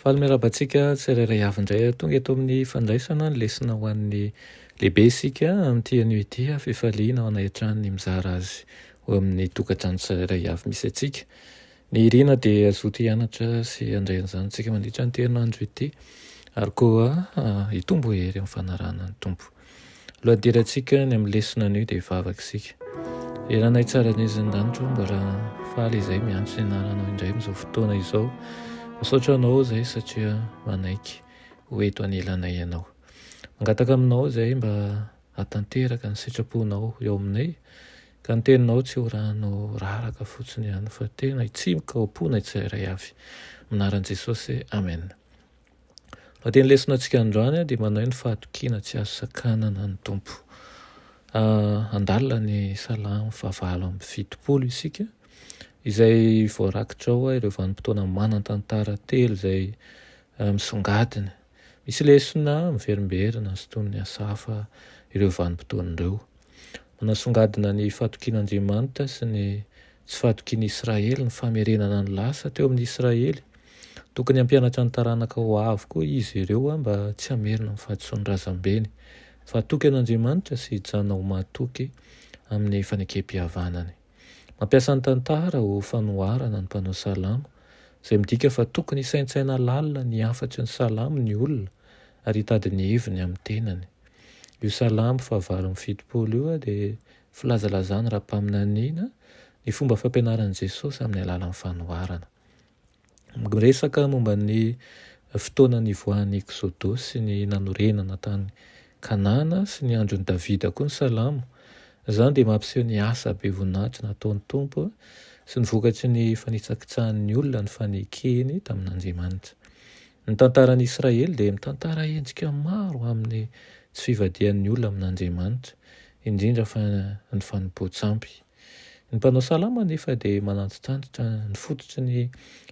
Faly miarahaba antsika tsirairay avy indray tonga eto amin'ny fandraisana ny lesona ho an'ny lehibe isika amin'ity anio ity. Fifaliana ao anay hatrany ny mizara azy ho amin'ny tokantrano tsirairay avy misy antsika. Ny irina dia hazoto hianatra sy handray an'izany isika mandritra an'ity herinandro ity, ary koa hitombo hery amin'ny fanarahana ny Tompo. Lohadirantsika ny amin'ny lesona anio dia vavaka isika. Ry Ranay tsara indrindra ny lanitra, mbola faly izay miantso ny anaranao indray amin'izao fotoana izao. Misaotra anao izay satria manaiky ho eto anelanay ianao. Mangataka aminao izay mba hahatanteraka ny sitraponao eo aminay, ka ny teninao tsy ho rano raraka fotsiny ihany fa tena hitsimoka ao am-ponay tsirairay avy. Amin'ny anaran'i Jesosy, amen. Lohatenin'ny lesonantsika androany dia manao hoe ny fahatokiana tsy azo sakanana ny Tompo. Handalina ny Salamo fahavalo amby fitopolo isika, izay voarakitra ao ireo vanim-potoana manan-tantara telo izay misongadina. Misy lesona miverimberina sintonin'ny asa hafa ireo vanim-potoana ireo. Manasongadina ny fahatokian'Andriamanitra sy ny tsy fahatokian'i Israely ny famerenana ny lasa teo amin'ny Israely. Tokony hampianatra ny taranaka ho avy koa izy ireo mba tsy hamerina ny fahadisoan'ny razambeny fa hatoky an'Andriamanitra sy hijanona ho mahatoky amin'ny fanekempihavanany. Mampiasa ny tantara ho fanoharana ny mpanao salamo, izay midika fa tokony hisaintsaina lalina ny hafatry ny salamo ny olona ary hitady ny heviny amin'ny tenany. Io salamo fahavalo amby fitopolo io dia filazalazana ara-paminaniana ny fomba fampianaran'i Jesosy amin'ny alalan'ny fanoharana. Miresaka momba ny fotoana nivoahan'ny Eksoda sy ny nanorenana tany Kanana sy ny andron'i Davida koa ny Salamo. Izany dia mampiseho ny asa be voninahitra nataon'ny Tompo sy ny vokatry ny fanitsakitsahan'ny olona ny fanekeny tamin'Andriamanitra. Ny tantaran'i Israely dia mitantara endrika maro amin'ny tsy fivadihan'ny olona amin'Andriamanitra, indrindra fa ny fanompoan-tsampy. Ny mpanao salamo anefa dia manantitrantitra ny fototry ny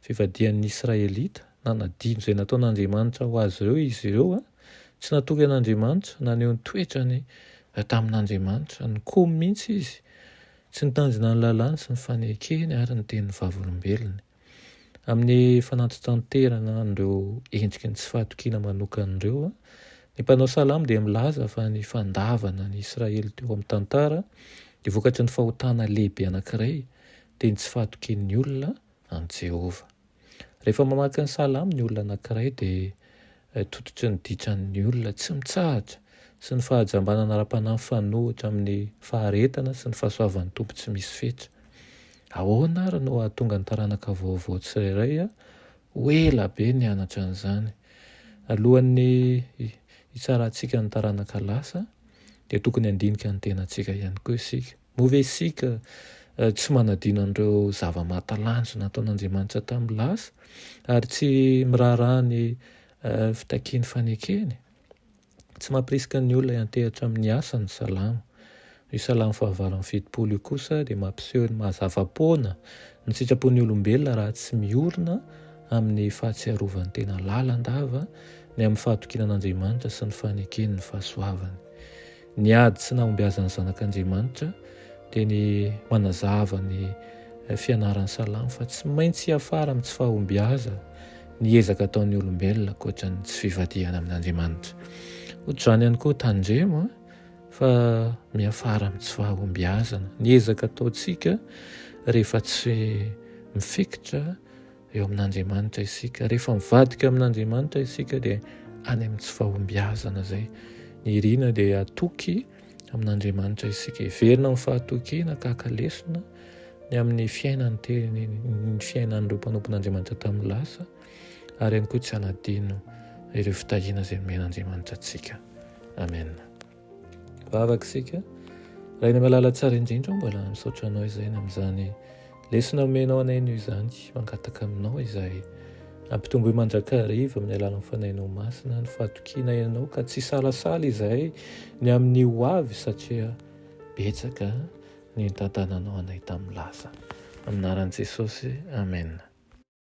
fivadihan'ny Israelita, nanadino izay nataon'Andriamanitra ho azy ireo izy ireo, tsy natory an'Andriamanitra, naneho ny toetrany tamin'Andriamanitra, nikomy mihitsy izy, tsy nitandrina ny lalàny sy ny fanekeny ary ny tenin'ny Vavolombelony. Amin'ny fanantitanterana an'ireo endriky ny tsy fahatokiana manokana ireo, ny mpanao salamo dia milaza fa ny fandavana an'i Israely teo amin'ny tantara dia vokatry ny fahotana lehibe anankiray, dia ny tsy fahatokian'ny olona an'i Jehovah. Rehefa mamaky ny salamo ny olona anankiray, dia tototry ny ditran'ny olona tsy mitsahatra sy ny fahajambanana ara-panahy mifanohitra amin'ny faharetana sy ny fahasoavan'ny Tompo tsy misy fetra. Ahoana àry no hahatonga ny taranaka vaovao tsirairay ho ela be nianatra an'izany? Alohan'ny hitsarantsika ny taranaka lasa, dia tokony handinika ny tenantsika ihany koa isika. Moa ve isika tsy manadino an'ireo zava-mahatalanjona nataon'Andriamanitra tamin'ny lasa, ary tsy miraharaha ny fitakiany fanekeny? Tsy mampirisika ny olona hiantehatra amin'ny asa ny Salamo. Io Salamo fahavalo amby fitopolo io kosa dia mampiseho ny maha-zava-poana ny sitrapon'ny olombelona raha tsy miorina amin'ny fahatsiarovan'ny tena lalandava ny amin'ny fahatokiana an'Andriamanitra sy ny fanekeny ny fahasoavany. Ny ady sy nahombiazan'ny Zanak'Andriamanitra dia ny manazava ny fianaran'ny Salamo fa tsy maintsy hiafara amin'ny tsy fahombiaza ny ezaka ataon'ny olombelona ankoatra ny tsy fivadihana amin'Andriamanitra. Ohatr'izany ihany koa tandremo fa miafara amin'ny tsy fahombiazana ny ezaka ataontsika rehefa tsy mifikitra eo amin'Andriamanitra isika. Rehefa mivadika amin'Andriamanitra isika dia any amin'ny tsy fahombiazana izay. Ny irina dia atoky amin'Andriamanitra isika. Heverina amin'ny fahatokiana tahaka lesona ny amin'ny fiainan'ny teny ny fiainan'ireo mpanompon'Andriamanitra tamin'ny lasa ary ihany koa tsy anadino ireo fitahiana izay nomen'Andriamanitra antsika. Amen. Vavaka isika. Raha ny malala tsara indrindra mbola misaotra anao izay na amin'izany lesona omenao anay noho izany mangataka aminao izay ampitomboy mandrakariva amin'ny alalan'ny fanainao masina ny fatokiana ianao ka tsy salasala izay ny amin'ny ho avy satria betsaka ny nitantananao anay tamin'ny lasa. Aminaran'i Jesosy. Amen.